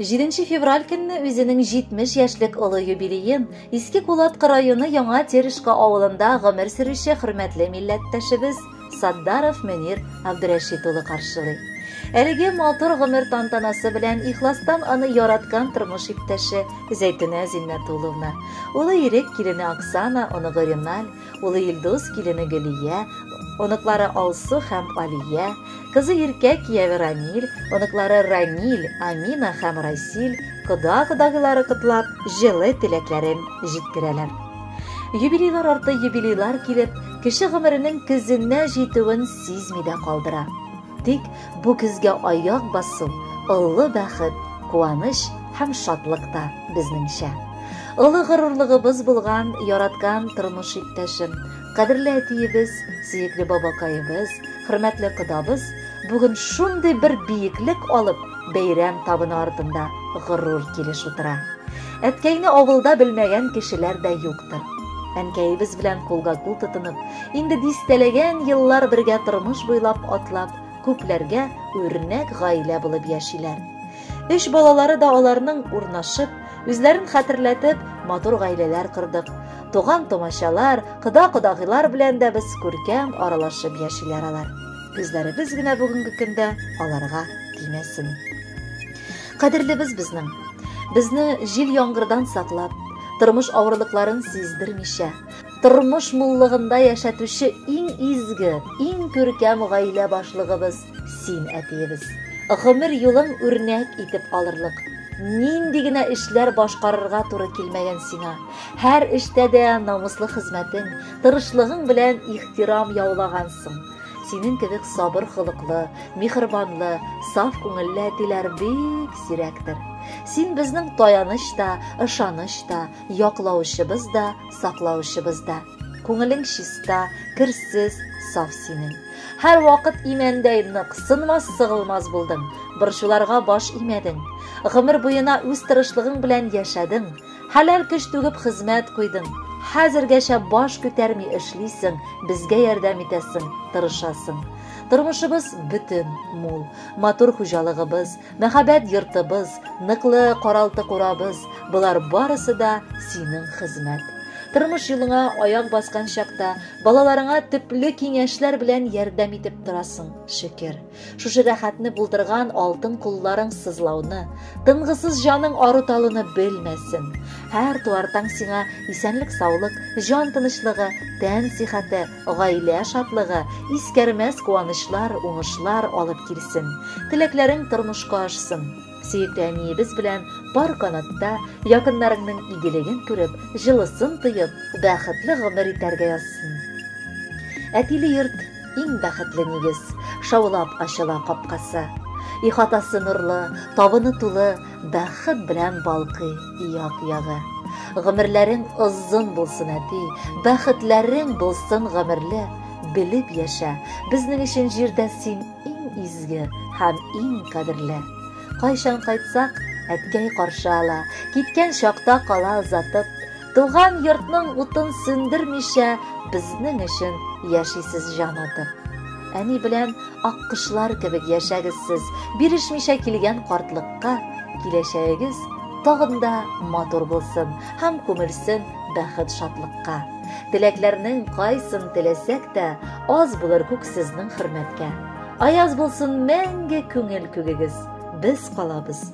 Җиденче февраль көнне үзенең 70 яшьлек олы юбилеен Иске Кулаткы районы Яңа Терешка авылында гомер сөрүче хөрмәтле милләттәшебез Саддаров Мөнир Абдрәшит улы каршылый. Әлеге матур гомер тантанасы белән ихластан аны яраткан тормыш иптәше Зәйтүнә Зиннәтулловна, улы ирек килене Оксана, оныгы Реналь, Улы Илдус, килене Гөлия, оныклары Алсу һәм Алия, кызы Иркә, кияве Рамил, оныклары Рамил, Амина һәм Расил, кода-кодагылары котлап, җылы теләкләрен җиткерәләр. Юбилейлар арты юбилейлар килеп, кеше гомеренең көзенә җитүен сизми дә калдыра. Тик бу көзгә аяк басу олы бәхет, куаныч һәм шатлык та, безнеңчә. Олы горурлыгыбыз булган яраткан тормыш иптәшем, кадерле әтиебез, сөекле бабакаебыз, хөрмәтле кодабыз бүген шундый бер биеклек алып, бәйрәм табыны артында горур килеш утыра. Әткәйне авылда белмәгән кешеләр дә юктыр. Әнкәебез белән кулга-кул тотынып, Инде дистәләгән еллар бергә тормыш буйлап атлап, күпләргә үрнәк гаилә булып яшиләр. Өч балалары да аларның урнашып, үзләрен хәтерләтеп, матур гаиләләр кордык. Туган-тумачалар, кода-кодагыйлар белән дә без күркәм аралашып яшиләр алар. Үзләребез генә бүгенге көндә аларга тимәсен. Кадерлебез безнең. Безне җил-яңгырдан саклап, тормыш авырлыкларын сиздермичә, Тормыш муллыгында яшәтүче иң изге, иң күркәм гаилә башлыгыбыз син, әтиебез. Гомер юлың үрнәк итеп алырлык. Нинди генә эшләр башкарырга туры килмәгән сиңа. Һәр эштә дә намуслы хезмәтең, тырышлыгың белән ихтирам яулагансың. Синең кебек сабыр холыклы, михырбанлы, саф күңелле әтиләр бик сирәктер. Син безнең таяныч та, ышаныч та, Яклаучыбыз да, саклаучыбыз да. Күңелең чиста, керсез, саф синең. Һәрвакыт имәндәй нык, сынмас-сыгылмас булдың. Борчуларга баш имәдең. Гомер буена үз тырышлыгың белән яшәдең. Хәләл көч түгеп хезмәт куйдың. Хәзергәчә баш күтәрми эшлисең, безгә ярдәм итәсең, тырышасың. Тормышыбыз бөтен, мул, матур хуҗалыгыбыз, Мәхәббәт йортыбыз, ныклы каралты курабыз, болар барысы да синең хезмәт. Тормыш юлыңа аяк баскан чакта балаларыңа төпле киңәшләр белән ярдәм итеп торасың, шөкер. Шушы рәхәтне булдырган алтын кулларың сызлауны, тынгысыз җаның арыталуны белмәсен. Һәр туартаң сиңа исәнлек-саулык, җан тынычлыгы, тән сихәте, Гаилә шатлыгы, искәрмәс куанычлар, уңышлар алып килсен. Теләкләрең тормышка ашсын. Сөекле әниебез белән пар канатта, якыннарыңның игелеген күреп, җылысын тоеп, бәхетле гомер итәргә язсын. Әтиле йорт, иң бәхетле нигез. Шаулап ачыла капкасы. Ихатасы нурлы, табыны тулы, Бәхет белән балкый як-ягы. Гомерләрең озын булсын, әти, бәхетләрең булсын гомерле, белеп яшә, безнең өчен җирдә син иң изге һәм иң кадерле. Кайчан кайтсак, әткәй каршы ала, киткән чакта кала озатып, Туган йортның утын сүндермичә безнең өчен яшисез җан атып. Әни белән аккошлар кебек яшәгез сез, бирешмичә килгән картлыкка, киләчәгегез тагын да матур булсын һәм күмелсен бәхет шатлыкка. Теләкләрнең кайсын теләсәк тә, аз булыр күк сезнең хөрмәткә. Аяз булсын мәңге күңел күгегез, без калабыз